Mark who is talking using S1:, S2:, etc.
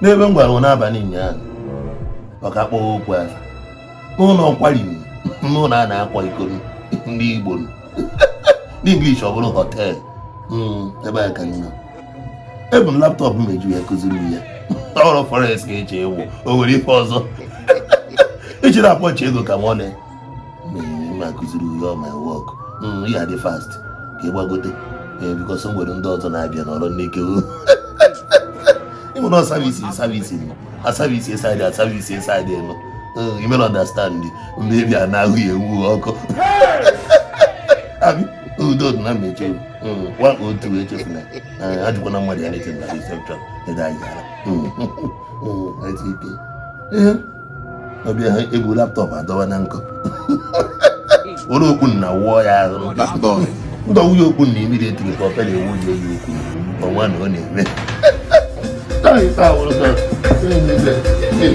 S1: n'ebe m gwara unu n'abalị ụnyaahụ maka akpọghị okwu ahụ n'ụlọ nkwari n'ụlọ a na-akwa iko ndị Igbo n'English ọ bụrụ hotel hmm, ebe a ka nọ ebu m laptop m eji ya kụziri ya ọrụ forex eche ewu o nwere ife ọzọ iji na-akpọchi ego ka m ọ na m akụziri ihe ọ ma wọk ya dị fast ka ị gbagote ee because m nwere ndị ọzọ na-abịa n'ọrụ n'ike ịmụrụ savisi savisi asavisi esaidị asavisi esaidị elu imere understand ndị ebi a na-ahụ ya ewu ọkụ abi udo dị na mmechi nwa otu echefu na ajụkwana mmadụ ya na-eche na reception ede anyị gara ike ọ bịa ebu laptop adọwa na nkụ were okpu na wụọ ya ahụ ndọ nwunye okpu na imiri etiri ka ọpere ewu ya eyi okwu ọnwa na ọ na-eme Hey!